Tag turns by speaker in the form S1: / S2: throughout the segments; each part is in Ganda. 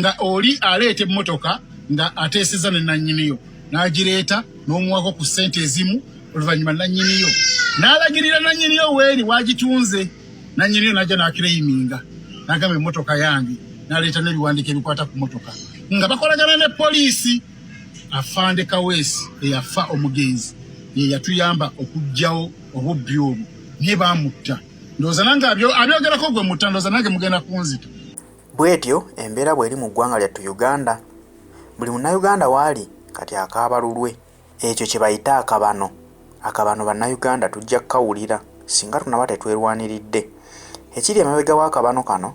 S1: nga oli aleeta emmotoka nga ateeseza ne nannyiniyo n'agireeta n'omuwako ku ssente ezimu oluvannyuma nannyiniyo n'alagirira nannyiniyo weeri waagitunze nannyiniyo n'ajja n'akireyiminga n'agamba emmotoka yange n'aleeta n'ebiwandiiko ebikwata ku mmotoka nga bakolagana ne poliisi afande kaweesi eyafa omugenzi ye yatuyamba okuggyawo obubbi obwo naye baamutta ndowooza nange abyogerako gwe mutta ndowooza nange mugenda kunzita Bwetyo
S2: embeera bweri mu ggwanga lyattu Uganda. Buli munnayuganda waali kati akaaba lulwe. Ekyo kyebayita akabano. Akabano bannayuganda tujja kukawulira singa tunaba tetwerwaniridde. Ekiri emabega w'akabano kano,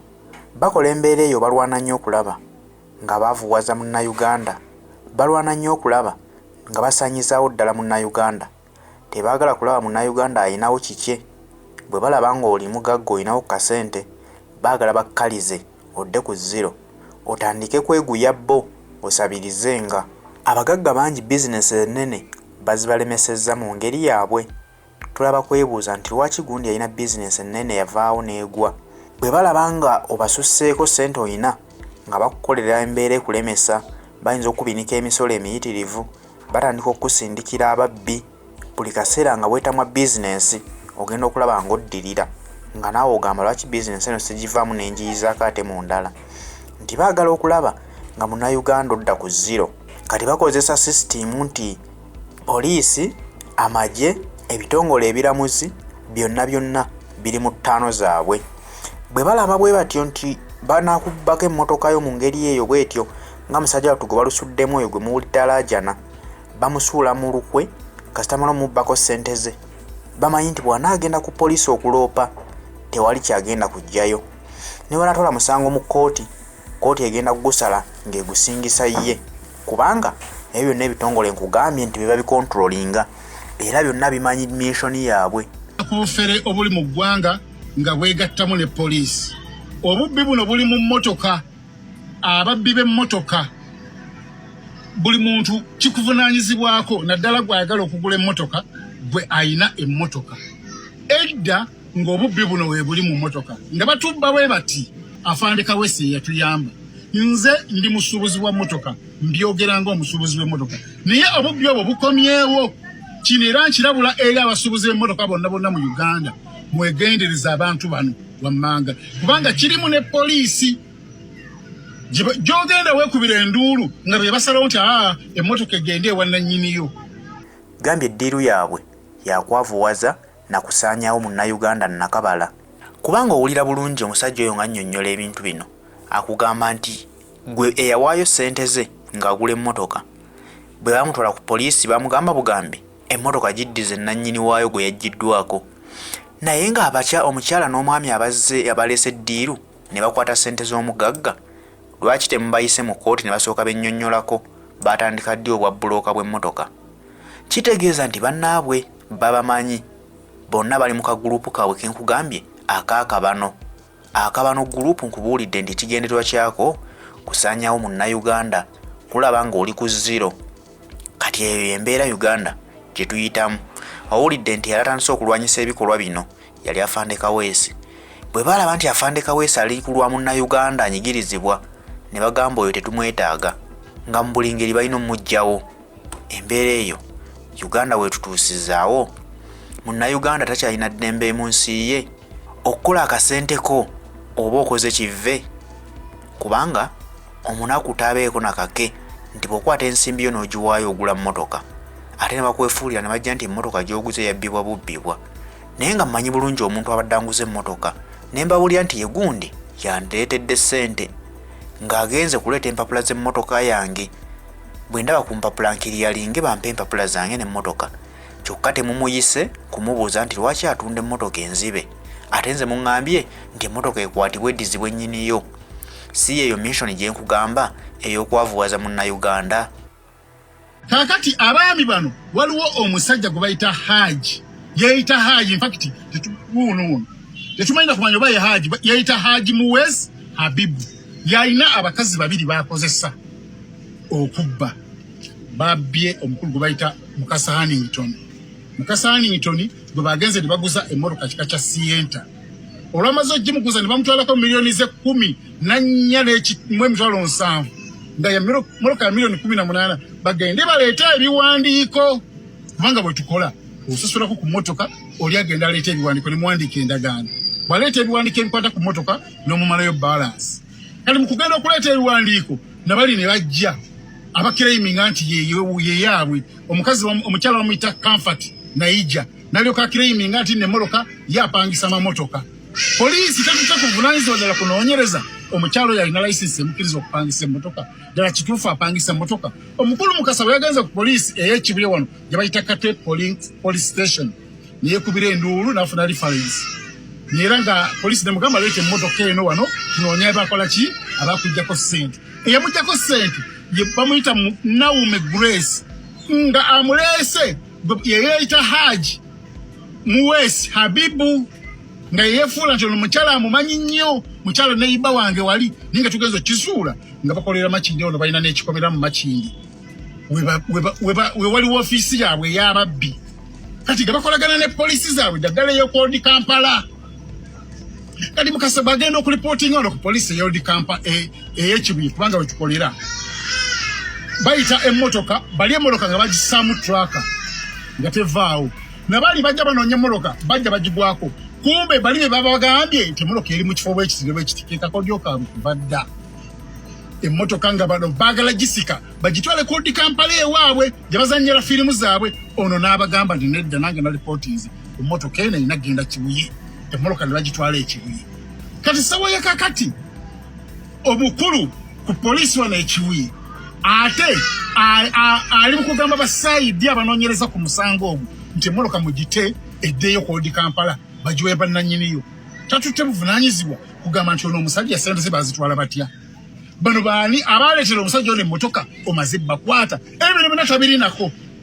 S2: bakola embeera eyo balwana nnyo okulaba nga bavuwaza munnayuganda, balwana nnyo okulaba nga basaanyizaawo ddala munnayuganda. Tebaagala kulaba Munnayuganda alinawo kikye. Bwe balaba ng'oli mugagga olinawo ku kasente, baagala bakkalize odde ku zziro otandike kweguya bo osabirizenga. Abagagga bangi bizinensi ennene bazibalemesezza mu ngeri yaabwe. Tulaba kwebuuza nti lwaki gundi yalina bizinensi ennene yavaawo n'egwa. Bwe balaba nga obasusseeko ssente olina nga bakukolera embeera ekulemesa, bayinza okukubinika emisolo emiyitirivu. batandika okukusindikira ababbi buli kaseera nga bwetamwa bizinensi ogenda okulaba ng'oddirira nga naawe ogamba lwaki bizinensi eno sigivaamu nenjiyizaako ate mu ndala nti baagala okulaba nga munauganda odda ku ziro kati bakozesa sisitiimu nti poliisi amagye ebitongole ebiramuzi byonna byonna biri mu ttaano zaabwe bwe balaba bwe batyo nti banakubbako emmotoka yo mu ngeri eyo bwetyo nga musajja wattu gwe balusuddemu oyo gwe muwulidde alaajana bamusuula mu lukwe kasita mala omubbako ssente ze bamanyi nti bw'anaagenda ku poliisi okuloopa tewali kyagenda kujjayo ne banaatwala musango mu kkooti kkooti egenda kugusala ng'egusingisa ye kubanga ebyo byonna ebitongole nkugambye nti bye babikontrolinga era byonna bimanyi minsoni yaabwe obufere obuli
S1: mu ggwanga nga bwegattamu ne poliisi obubbi buno buli mu mmotoka ababbi b'emmotoka buli muntu kikuvunaanyizibwako naddala gw'ayagala okugula emmotoka gwe ayina emmotoka edda ng'obubbi buno we buli mu mmotoka nga batubba bwe bati afande kawesi eyatuyamba nze ndi musuubuzi wa mmotoka mbyogera ng'omusuubuzi w'emmotoka naye obubbi obwo bukomyewo kino era nkirabula eri abasuubuzi b'emmotoka bonna bonna mu uganda mwegendereza abantu bano wammanga kubanga kirimu ne poliisi gyogenda weekubira enduulu nga be basalawo nti aa emmotoka egende ewannannyiniyo gambye
S2: eddiiru yaabwe yakwavuwaza na kusaanyawo munnayuganda nakabala kubanga owulira bulungi omusajja oyo nga nnyonnyola ebintu bino akugamba nti gwe eyawaayo ssente ze ng'agula emmotoka bwe bamutwala ku poliisi bamugamba bugambi emmotoka giddize nnannyini waayo gwe yaggyiddwako naye ng'abakya omukyala n'omwami abazze abaleese ddiiru ne bakwata ssente z'omugagga lwaki temubayise mu kkooti ne basooka bennyonnyolako baatandika ddi obwa bbulooka bw'emmotoka kitegeeza nti bannaabwe babamanyi bonna bali mu kaguluupu kaabwe ke nkugambye akaakabano Akabano Group nkubuulidde nti ekigendererwa kyako kusaanyawo munnayuganda kulaba ng'oli ku zero kati eyo embeera uganda gye tuyitamu owulidde nti yalatandise okulwanyisa ebikolwa bino yali afande kaweesi bwe baalaba nti afande kaweesi ali ku lwa munnayuganda anyigirizibwa ne bagamba oyo tetumwetaaga nga mu buli ngeri balina omugyawo embeera eyo uganda wetutuusizaawo munnayuganda takyalina ddembe mu nsi ye okukola akasente ko oba okoze kive kubanga omunaku tabeeko nakake nti bwokwata ensimbi yo n'ogiwaayo ogula mmotoka ate ne bakwefuulira ne bajja nti emmotoka gy'oguze yabbibwa bubbibwa naye nga mmanyi bulungi omuntu abadde anguza emmotoka ne mbabulira nti ye gundi yandireetedde ssente ng'agenze kuleeta empapula z'emmotoka yange bwe ndaba ku mpapula nkiriyalinge bampe empapula zange n'emmotoka kyokka temumuyise kumubuuza nti lwaki atunda emmotoka enzibe ate nze muŋambye nti emmotoka ekwatibwa eddizibwa ennyiniyo si yeeyo missioni gye nkugamba ey'okwavuwaza munnayuganda
S1: kaakati abaami bano waliwo omusajja gwe bayita haaji yeeyita haaji infakiti wuunuwuunu tetumanyina kumanya oba ye haaji yeeyita haaji muwezi habibu yalina abakazi babiri baakozesa okubba babbye omukulu gwe bayita mukasa hannington mukasa hannington gwe bagenze ne baguza emmotoka kika kya sienta olwamaze ogimuguza ne bamutwalako miliyoni ze kumi nannya mu emitwalo nsanvu nga yemmotoka ya miliyoni kumi na munaana bagende baleete ebiwandiiko kubanga bwe tukola osasulako ku mmotoka oli agenda aleeta ebiwandiiko ne muwandiika endagaano bwaleeta ebiwandiiko ebikwata ku mmotoka n'omumalayo balansi kati mukugenda okuleeta ebiwandiiko nabali ne bajja abakiraiminga nti yeyaabwe omukazi omukyala bamuyita comfort naija nalyoka akiraiminga nti nemoloka yapangisa mamotoka poliisi tetute ku buvunanyizibwa ddala kunoonyereza omukyalo yalina license emukiriza okupangisa emotoka ddala kituufu apangisa emotoka omukulu mukasa bwe yagenze ku poliisi eyekibuye wano gyebayita kate police station neyekubira enduulu nafuna reference era nga polisi nemugamba leeta emmotoka eno wano tunoonya bakola ki abakujjako ssente eyamujjako ssente bamuyita naume grace nga amuleese yeyeyita haji muwes habibu nga yeyefuula nti ono mukyala amumanyi nnyo mukyala neyiba wange wali naye nga tugenza okisuula nga bakolera makindi ono balina nekikomera mu makindi we waliwo ofiisi yaabwe ey'ababbi kati nga bakolagana ne poliisi zaabwe daddala ey'okwoldi kampala kati mukasa bagenda okulipootinga ono ku poliisi ey'oldi kampa e, ey'ekibuye kubanga wetukolera bayita emmotoka bali emmotoka nga bagisaamu traka nga tevaawo nabaali bajja banoonya emmotoka bajja bagigwako kumbe bali be babagambye nti emmotoka eri mu kifo bwekiti ne bwekiti kekakodyokaabwe kuva dda emmotoka nga bano baagala gisika bagitwale kodi kampala ewaabwe gye bazanyira firimu zaabwe ono n'abagamba nti nedda nange na lipootinze emmotoka eno erina genda kibuye emmotoka ne bagitwala ekibuye kati sawaye kakati omukulu ku poliisi wano ekibuye ate ali mu kugamba basayidi abanoonyereza ku musango ogwo nti emmotoka mugite eddeeyo kodi kampala bagiwe bannanyiniyo tatutte buvunanyizibwa kugamba nti ono omusajja sente ze bazitwala batya bano baani abaleetera omusajja ono emmotoka omaze bakwata ebyo ne bina tabirinako